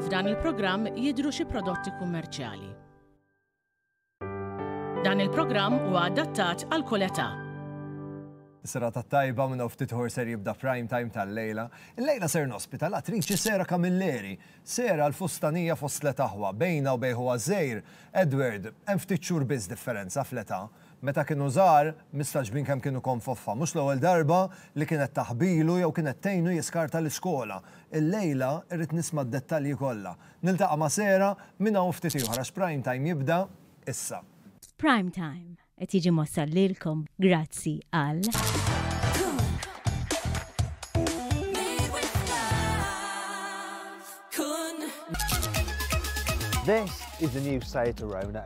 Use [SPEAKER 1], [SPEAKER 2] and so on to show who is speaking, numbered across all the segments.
[SPEAKER 1] F'dan il-programm jidhru xi prodotti kummerċjali. Dan il-programm huwa adattat għal kull età.
[SPEAKER 2] Serata tajba minn ftit ħor ser jibda prime time tal-lejla. Il-lejla ser nospita l-attriċi Sera Camilleri. Sera l-fustanija fost l-etaħwa, bejna u bejħu għazzejr. Edward, hemm ftit xhur biss differenza fl-età. Meta kienu żgħar, mistaġbin kemm kienu konfoffa. Mhux l-ewwel darba li kienet taħbilu jew kienet tgħinu jiskarta l-iskola. Illejla rrid nisma' d-dettalji kollha. Niltaqa' ma' Sarah minn hawn ftit ieħor għax Prime Time jibda issa. Prime
[SPEAKER 3] Time qed jiġi mwassal lilkom grazzi għal.
[SPEAKER 4] This is the new site to Rona.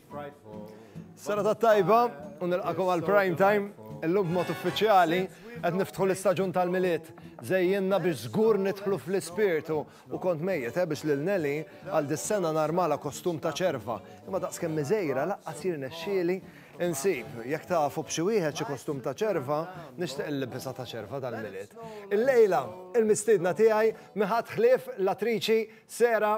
[SPEAKER 2] Sena ta' tajba, u nilqakom għal prime time, illum b'mod uffiċjali, qed niftħu l-istaġun tal-miliet. Zejjinna biex żgur nidħlu fl-ispirtu u kont mejjet eh, biex lil Nelly għal dis-sena narmala kostum ta' ċerva. Imma daqskemm miżejra laqqas jirnexxieli insib. Jekk tafu b'xi wieħed xi kostum ta' ċerva, nixtieq il-libisa ta' ċerva tal-miliet. Illejla, il-mistiedna tiegħi miħat ħlief l-attriċi Sera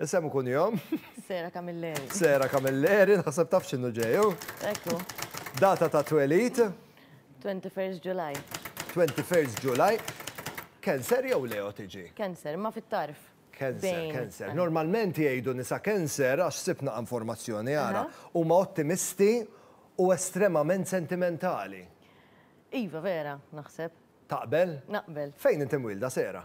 [SPEAKER 2] Isem u kunjom? Sera Camilleri.
[SPEAKER 5] Sera Camilleri,
[SPEAKER 2] naħseb taf x'inhu ġejju. Ekku.
[SPEAKER 5] Data ta'
[SPEAKER 2] twelid? 21
[SPEAKER 5] July. 21
[SPEAKER 2] July. Cancer jew Leo tiġi? Cancer, ma fit-tarf.
[SPEAKER 5] Cancer, cancer.
[SPEAKER 2] Normalment jgħidu nisa cancer għax sibna informazzjoni għara. Huma ottimisti u estremament sentimentali. Iva,
[SPEAKER 5] vera, naħseb. Taqbel?
[SPEAKER 2] Naqbel. Fejn inti
[SPEAKER 5] mwilda, Sera?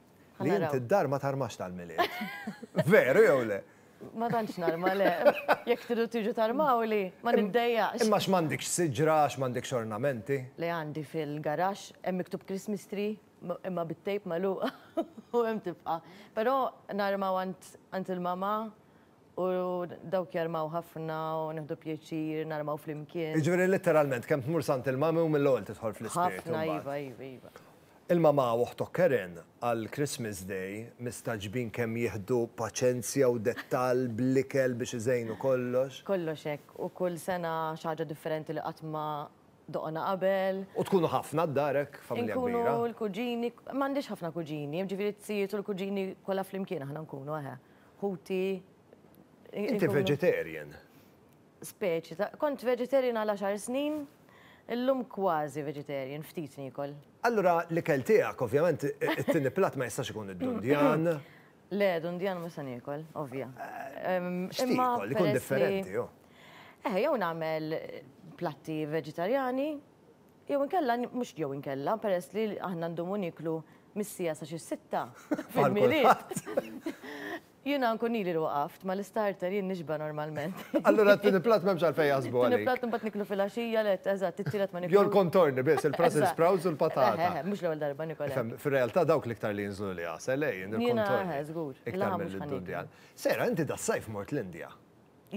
[SPEAKER 2] Li int id-dar ma tarmax tal-Milied. Veru jew le? Ma tantx narma
[SPEAKER 5] le. Jekk tridu tiġu tarmawli, ma niddejjaqx. Imma x'm'għandikx
[SPEAKER 2] siġra, x'm'għandikx ornamenti? Le għandi
[SPEAKER 5] fil-garaxx, hemm miktub Christmas tree imma bit-tejp magħluq u hemm tibqa'. Però narmaw għand il-mama u dawk jarmaw ħafna u nieħdu pjaċir narmaw flimkien. Jiġifieri litteralment
[SPEAKER 2] kemm tmur s'għand il-mami u mill-ewwel tidħol fl-ispirtu. Ħafna iva, iva, iva.
[SPEAKER 5] Il-mamà u
[SPEAKER 2] oħtok Karen għal Christmas Day mistagħġbin kemm jieħdu paċenzja u dettall bl-ikel biex iżejnu kollox. Kollox hekk, u
[SPEAKER 5] kull sena xi ħaġa differenti li qatt ma doqna qabel. U tkunu ħafna
[SPEAKER 2] d-dar hekk, familja kbira. Inkunu l-kuġini,
[SPEAKER 5] m'għandix ħafna kuġini, jiġifieri t-tijiet u l-kuġini kollha flimkien aħna nkunu, eħe. Ħuti.
[SPEAKER 2] Inti vegetarian? speċi
[SPEAKER 5] ta' Kont vegetarian għal għaxar snin, illum kważi vegetarian, ftit niekol. Allura l-ikel
[SPEAKER 2] tiegħek, ovvjament, it-tieni platt ma jistax ikun id-dundjan. Le,
[SPEAKER 5] dundjan mhux se niekol, ovvja. X'tiekol?
[SPEAKER 2] Ikun differenti, oh. Eħe, jew nagħmel
[SPEAKER 5] platti veġitarjani, jew inkella, mhux jew inkella, peress li aħna ndumu nieklu mis-siegħa sa xi sitta fil-milied. Jiena nkun ili li waqaft, ma l-istarter jien nixba' normalment. Allura t-tieni platt
[SPEAKER 2] m'hemmx għalfejn jaħsbu għalik. It-tieni platt imbagħad niklu fil-għaxija,
[SPEAKER 5] le, eżatt, it-tielet ma niklux. Jew l-contorni biss,
[SPEAKER 2] il-brussels sprouts u l-patata. Eħe, eħe, mhux l-ewwel darba nikol hekk.
[SPEAKER 5] Ifhem, fir-realtà dawk l-iktar
[SPEAKER 2] li jinżlu l-għasel, le, jien il-contorni. Jiena, eħe, żgur, il-laħam mhux
[SPEAKER 5] ħa niklu.
[SPEAKER 2] Sara, inti das-sajf mort l-Indja.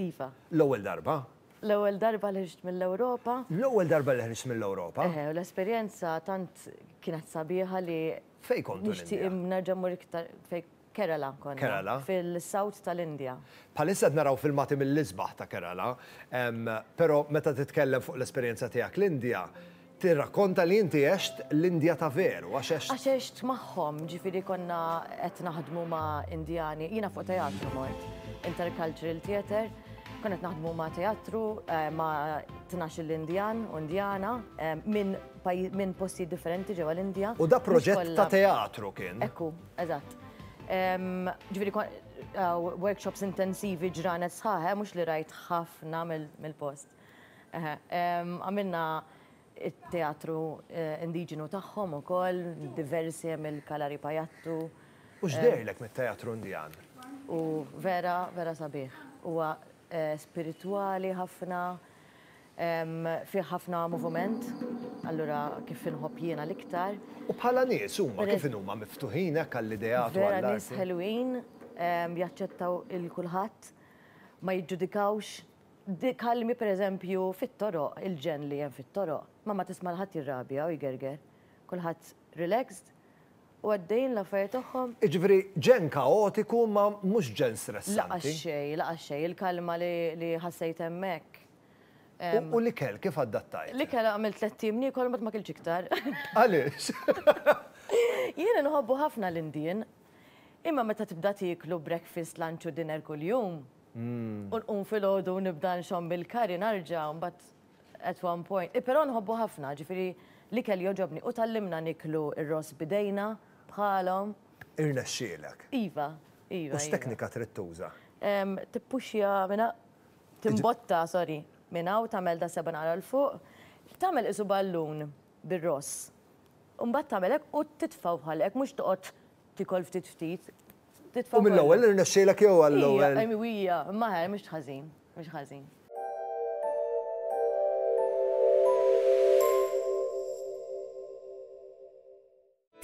[SPEAKER 2] Iva.
[SPEAKER 5] L-ewwel darba?
[SPEAKER 2] L-ewwel darba
[SPEAKER 5] li ħriġt mill-Ewropa. L-ewwel darba li ħriġt
[SPEAKER 2] mill-Ewropa? Eħe, u l-esperjenza
[SPEAKER 5] tant kienet sabiħa li. Fejn kont l-Indja? Nixtieq
[SPEAKER 2] nerġa' mmur iktar
[SPEAKER 5] fejn. Kerala konna. Kerala. Fil-South
[SPEAKER 2] tal-Indja.
[SPEAKER 5] Bħalissa qed naraw
[SPEAKER 2] filmati mill-isbaħ ta' Kerala, però meta titkellem fuq l-esperjenza tiegħek l-Indja, tirrakkonta li inti għext l-Indja ta' veru, għax għext. Għax għext magħhom,
[SPEAKER 5] ġifieri konna qed naħdmu ma' Indjani, jiena fuq teatru mort, intercultural theatre, konna qed naħdmu ma' teatru ma' tnax-il Indjan u Indjana minn postijiet differenti ġewwa l-Indja. U da proġett ta'
[SPEAKER 2] teatru kien. Ekku. Eżatt.
[SPEAKER 5] Ġifieri workshops intensivi ġranet sħaħ, mhux li rajt ħafna mill-post. Għamilna t-teatru indiġenu tagħhom ukoll, diversi hemm il-Kalari Pajattu. U x'deherlek
[SPEAKER 2] mit-teatru Indian? Hu
[SPEAKER 5] vera, vera sabiħ. Huwa spiritwali ħafna. Fih ħafna movument, allura kif inħobb jiena l-iktar. U bħala nies
[SPEAKER 2] huma kif inhuma miftuħin hekk għall-ideat u għall-arti? Vera nies ħelwin,
[SPEAKER 5] jaċċettaw il kulħadd, ma jiġġudikawx. Kalmi pereżempju fit-toroq, il-ġenn li hemm fit-toroq, ma ma tisma' l-ħadd jirrabja u jgerger. Kulħadd relaxed U għaddejjin l-affarijiet tagħhom. Jiġifieri ġenn
[SPEAKER 2] kaotiku imma mhux ġenn stressanti. La xejn, la xejn,
[SPEAKER 5] il-kalma li ħassejt hemmhekk. U
[SPEAKER 2] l-ikel kif adattajt? L-ikel għamilt tlett ijiem
[SPEAKER 5] niekol imbagħad ma kiltx iktar. Għaliex? Jiena nħobbu ħafna l-Indien. Imma meta tibda tieklu breakfast, lunch u dinner kuljum, u nqum filgħodu u nibda nxomm bil-curry narġa' mbagħad. At one point, però nħobbu ħafna, ġifieri l-ikel jogħġobni u tgħallimna niklu r-ross b'idejna bħalhom. Irnexxielek.
[SPEAKER 2] Iva,
[SPEAKER 5] iva. U x'teknika
[SPEAKER 2] trid tuża? Tippuxja
[SPEAKER 5] minn hawn, timbotta, sorry, minn hawn tagħmel daqsxejn ara 'l fuq, tagħmel qisu ballun bir-ross. U mbagħad tagħmel hekk u titfgħu bħal hekk mhux toqgħod tiekol ftit ftit. U mill-ewwel
[SPEAKER 2] irnexxielek jew għall-ewwel? Ija, ija, imma
[SPEAKER 5] mhux ħażin. Mhux ħażin.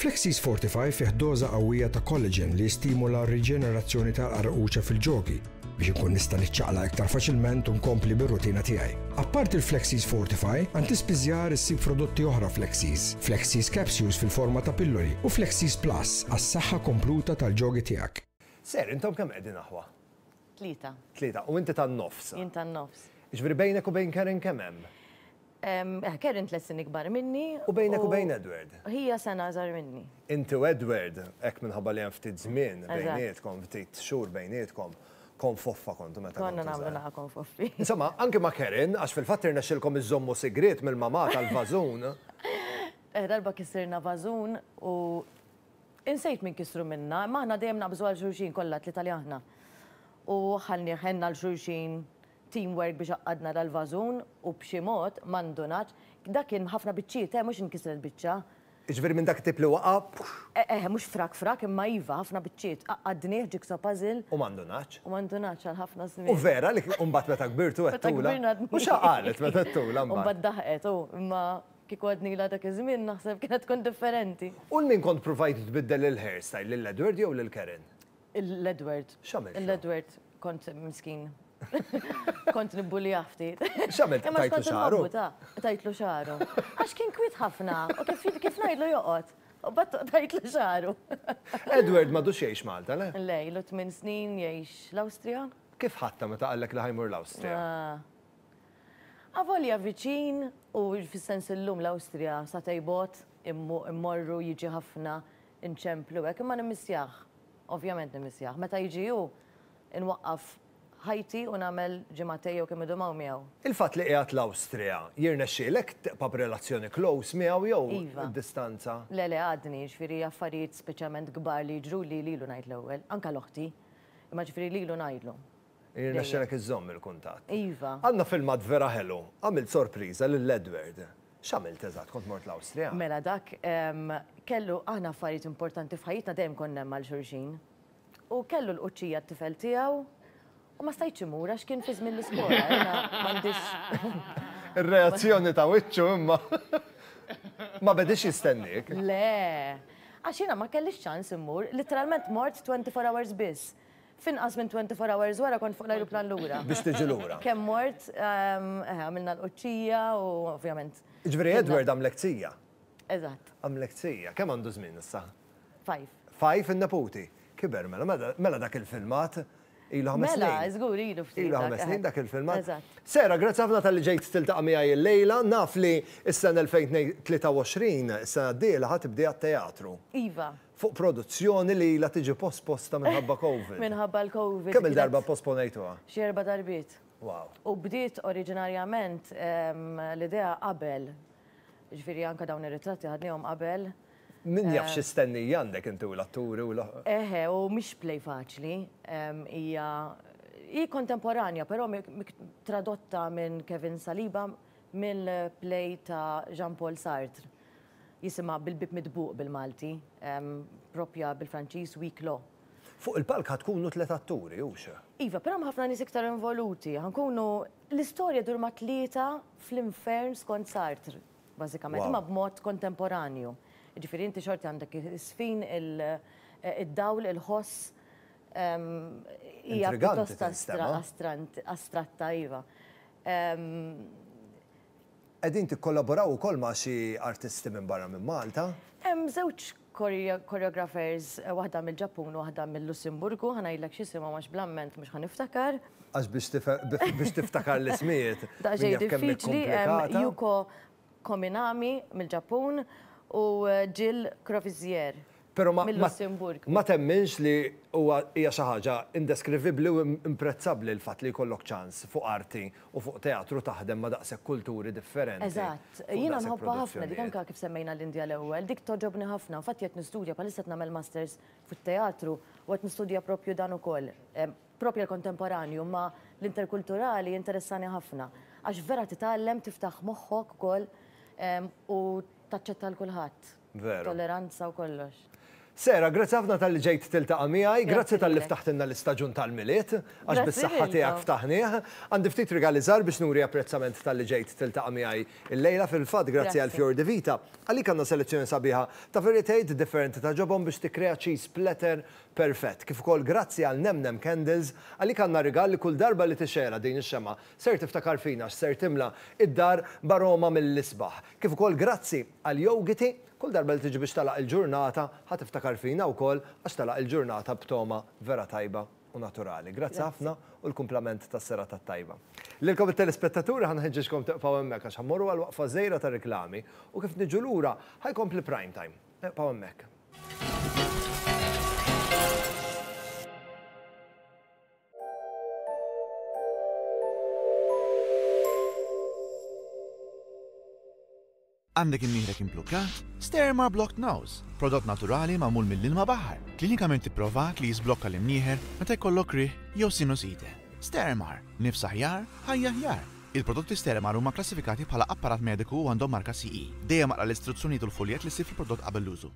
[SPEAKER 6] Flexis Fortify fih doża qawwija ta' collagen li jistimula r-riġenerazzjoni tal-qarquċa fil-ġogi biex inkun nista' niċċaqla iktar faċilment u nkompli bir-rutina tiegħi. Apparti l-Flexis Fortify, għand tispiżjar issib prodotti oħra Flexis, Flexis Capsules fil-forma ta' pilloli u Flexis Plus għas-saħħa kompluta tal-ġogi tiegħek. Sir, intom kemm
[SPEAKER 2] qegħdin aħwa? Tlieta.
[SPEAKER 5] Tlieta. U inti
[SPEAKER 2] tan-nofs? Jien tan-nofs.
[SPEAKER 5] Jiġifieri bejnek u bejn
[SPEAKER 2] Karen kemm hemm?
[SPEAKER 5] Karen tliet snin ikbar minni. U bejnek u bejn Edward?
[SPEAKER 2] Hija sena iżgħar
[SPEAKER 5] minni. Inti u Edward,
[SPEAKER 2] hekk minħabba li hemm ftit żmien bejnietkom, ftit xhur bejnietkom, konfoffa kontu meta kontu żgħar. Konna nagħmlu naqa' konfoffi.
[SPEAKER 5] Insomma, anke ma'
[SPEAKER 2] Karen, għax fil-fatt irnexxielkom iżżommu sigriet mill-mamà tal-vażun.
[SPEAKER 5] Darba kissirna vażun u Insejt min kisru minna, imma aħna dejjem naqbżu għal xulxin kollha t-tlieta li aħna. U ħallnieh għenna 'l xulxin, team work biex għaqqadna dal-vażun u b'xi mod, ma ndunatx, dak kien b'ħafna biċċiet, eh, mhux inkisret biċċa. Jiġifieri minn dak it-tip
[SPEAKER 2] li waqa', pux! Eh, mhux frak
[SPEAKER 5] frak, imma iva, ħafna biċċiet, għaqqadnieh jigsaw puzzle. U ma ndunatx. U ma
[SPEAKER 2] ndunatx għal ħafna
[SPEAKER 5] żmien. U vera li, u mbagħad
[SPEAKER 2] meta kbirtu għedtulha? Meta kbirna għedna. U x'ha qalet meta għedtulha mbagħad? U mbagħad daħqet, u,
[SPEAKER 5] imma. Kieku għadnilha dak iż-żmien naħseb kienet tkun differenti. U 'l min kont pruvajt
[SPEAKER 2] tbiddel il-hairstyle, lil Edward jew lil Karen? Lil Edward.
[SPEAKER 5] X'għamiltlu? Lil Edward
[SPEAKER 2] kont
[SPEAKER 5] miskin. Kont nibbulijah ftit. X'għamilt, tajtlu xagħru? Imma
[SPEAKER 2] x'kont inħobbu ta', tajtlu xagħru.
[SPEAKER 5] Għax kien kwiet ħafna u kif ngħidlu joqgħod, u mbagħad tajtlu xagħru. Edward
[SPEAKER 2] m'għadux jgħix Malta, le? Le, ilu tmien snin
[SPEAKER 5] jgħix l-Awstrija. Kif ħadtha meta
[SPEAKER 2] qallek li ħa jmur l-Awstrija? Avolja
[SPEAKER 5] viċin, u fis-sens illum l-Awstrija sa tej bogħod, immorru, jiġi ħafna, inċemplu hekk, imma nimmissjah, ovvjament nimmissjah. Meta jiġi hu, inwaqqaf ħajti u nagħmel ġimgħatej jew kemm idum hawn miegħu. Il-fatt li qiegħed
[SPEAKER 2] l-Awstrija, jirnexxielek tibqa' b'relazzjoni close miegħu jew d-distanza? Iva. Le, le, għadni,
[SPEAKER 5] jiġifieri affarijiet speċjalment kbar li jiġruli lilu ngħid l-ewwel, anke l-oħti. Imma ġifieri lilu ngħidlu. Jirnexxilek
[SPEAKER 2] iżżomm il-kuntatt. Iva. Għandna filmat
[SPEAKER 5] vera
[SPEAKER 2] ħelu. Għamilt sorpriża lil Edward. X'għamilt eżatt? Kont mort l-Awstrija? Mela dak
[SPEAKER 5] kellu aħna affarijiet importanti f'ħajjitna dejjem konna hemm għal xulxin. U kellu l-quċċija t-tifel tiegħu u ma stajtx imur għax kien fi żmien l-iskola. Ir-reazzjoni
[SPEAKER 2] ta' wiċċu imma ma bediex jistenniek. Le.
[SPEAKER 5] Għax jiena ma kellix ċans immur, litteralment mort 24 hours biss. F'inqas minn 24 hours wara kont fuq l-ajruplan lura. Biex tiġi lura. Kemm
[SPEAKER 2] mort,
[SPEAKER 5] eħe, għamilna l-qudċija u ovvjament. Jiġifieri Edward
[SPEAKER 2] għamlek tija. Eżatt.
[SPEAKER 5] Għamlek tija.
[SPEAKER 2] Kemm għandu żmien issa?
[SPEAKER 5] Five. Five in-neputi?
[SPEAKER 2] Kiber mela, mela dak il-filmat ilu ħames snin. Mela, żgur ilu ftit. Ilu
[SPEAKER 5] ħames snin dak il-filmat.
[SPEAKER 2] Eżatt. Sarah, grazzi
[SPEAKER 5] ħafna talli
[SPEAKER 2] ġejt tiltaqa' miegħi llejla. Naf li s-sena 2023, is-sena d-dieħla, ħa tibdiha t-teatru. Iva. fuq
[SPEAKER 5] produzzjoni
[SPEAKER 2] li ilha tiġi posposta minħabba Covid.
[SPEAKER 5] Minħabba
[SPEAKER 2] l-Covid. Kemm-il darba pposponejtuha?
[SPEAKER 5] Xi erba'
[SPEAKER 2] darbiet. Wow. U bdiet
[SPEAKER 5] oriġinarjament l-idea qabel. Jiġifieri anke dawn ir-ritratti ħadniehom qabel. Min jaf xi
[SPEAKER 2] stenniji għandek inti u l-atturi u l. Eħe, u mhix
[SPEAKER 5] play faċli. Hija hi kontemporanja, però tradotta minn Kevin Saliba mill-play ta' Jean Paul Sartre. Jisimha Bil-Bieb Midbuq bil-Malti, proprja bil-Franċiż Huis Clos. Fuq il-palk ħa
[SPEAKER 2] tkunu tliet atturi, hux? Iva, però hemm ħafna nies
[SPEAKER 5] iktar involuti. Ħa nkunu, l-istorja ddur ma' tlieta fl-infern skont Sartre, bażikament, imma b'mod kontemporanju. Jiġifieri inti xorta għandek is-sfin, id-dawl, il-ħoss. Hija pjuttost astratta, iva.
[SPEAKER 2] Qegħdin tikkollaboraw ukoll ma' xi artisti minn barra minn Malta? Hemm żewġ
[SPEAKER 5] choreographers, waħda mill-Ġappun u waħda mil-Lussemburgu, ħa ngħidlek x'isimhom għax bl-amment mhux ħa niftakar. Għax biex
[SPEAKER 2] biex tiftakar l-ismijiet, min jaf kemm hi
[SPEAKER 5] komplikata. Yuko Kominami mill-Ġappun u Jill Crovizier. Però ma
[SPEAKER 2] mill-Lussemburgu. ma
[SPEAKER 5] temminx li
[SPEAKER 2] huwa hija xi ħaġa indeskrivibbli u imprezzabbli l-fatt li jkollok ċans fuq arti u fuq teatru taħdem ma' daqshekk kulturi differenti. Eżatt. fuq Jiena daqshekk
[SPEAKER 5] nħobbha ħafna dik produzzjonijiet. anke kif semmejna l-Indja l-ewwel, dik togħġobni ħafna. Infatti qed nistudja bħalissa qed nagħmel masters fit-teatru u qed nistudja proprju dan ukoll. Proprja l-kontemporanju, imma l-interkulturali jinteressani ħafna. Għax vera titgħallem, tiftaħ moħħok ukoll u taċċetta lil kulħadd. Veru. Tolleranza u kollox. Sarah, grazzi
[SPEAKER 2] ħafna talli ġejt tiltaqa' miegħi, grazzi talli ftaħtilna l-istaġun tal-Milied, għax bis-saħħa tiegħek ftaħnieh. Għandi ftit rigali żgħar biex nuri apprezzament talli ġejt tiltaqa' miegħi llejla, fil-fatt grazzi għal Fior di Vita. Għalik għandna selezzjoni sabiħa ta' veritejt differenti ta' ġobon biex tikkrea cheese platter perfett. Kif ukoll grazzi għal Nem Nem Candles, għalik għandna rigal li kull darba li tixgħelha din ix-xemgħa ser tiftakar fina għax ser timla id-dar b'aroma mill-isbaħ. Kif ukoll grazzi Qal Yogiti, Kull darba li tiġi biex tagħlaq il-ġurnata, ħa tiftakar fina wkoll għax tagħlaq il-ġurnata b'togħma vera tajba u naturali. Grazzi ħafna u l-kumplament tas-serata t-tajba. Lilkom it-telespettaturi ħa nħeġġeġkom tibqgħu hemmhekk għax ħa mmorru għal waqfa żgħira ta' riklami u kif niġu lura ħa jkompli Prime Time. Ibqgħu hemmhekk.
[SPEAKER 7] Għandek imnieħrek implukkat? Sterma Blocked Nose, prodott naturali magħmul mill-ilma baħar, klinikament ipprovat li jiżblokka l-imnieħer meta jkollok riħ jew sinusite. Stermar, nifs aħjar, ħajja aħjar! Il-prodotti Stermar huma kklassifikati bħala apparat mediku u għandhom marka CE. Dejjem aqra l-istruzzjonijiet u l-fuljett li ssib fil-prodott qabel l-użu.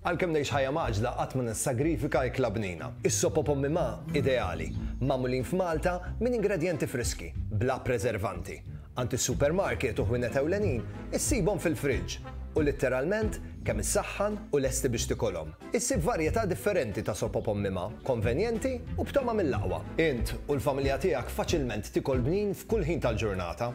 [SPEAKER 8] Għalkemm ngħix
[SPEAKER 2] ħajja mgħaġġla qatt ma nissagrifika ikla bnina. Is-sop u pommi ma, ideali. Magħmulin f'Malta minn ingredjenti friski, bla preservanti. Għand is-supermarket u ħwienet ewlenin issibhom fil-friġġ u litteralment kemm issaħħan u lesti biex tikolhom. Issib varjetà differenti ta' sop u pommi ma, konvenjenti u b'togħma mill-aqwa. Int u l-familja tiegħek faċilment tikol bnin f'kull ħin tal-ġurnata.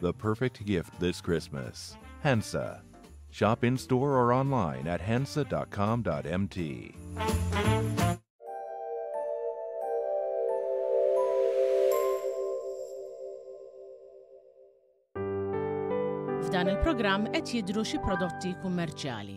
[SPEAKER 9] The perfect gift this Christmas. Hensa. Shop in store or online at hensa.com.mt.
[SPEAKER 1] F'dan il-programm qed jidru xi prodotti kummerċjali.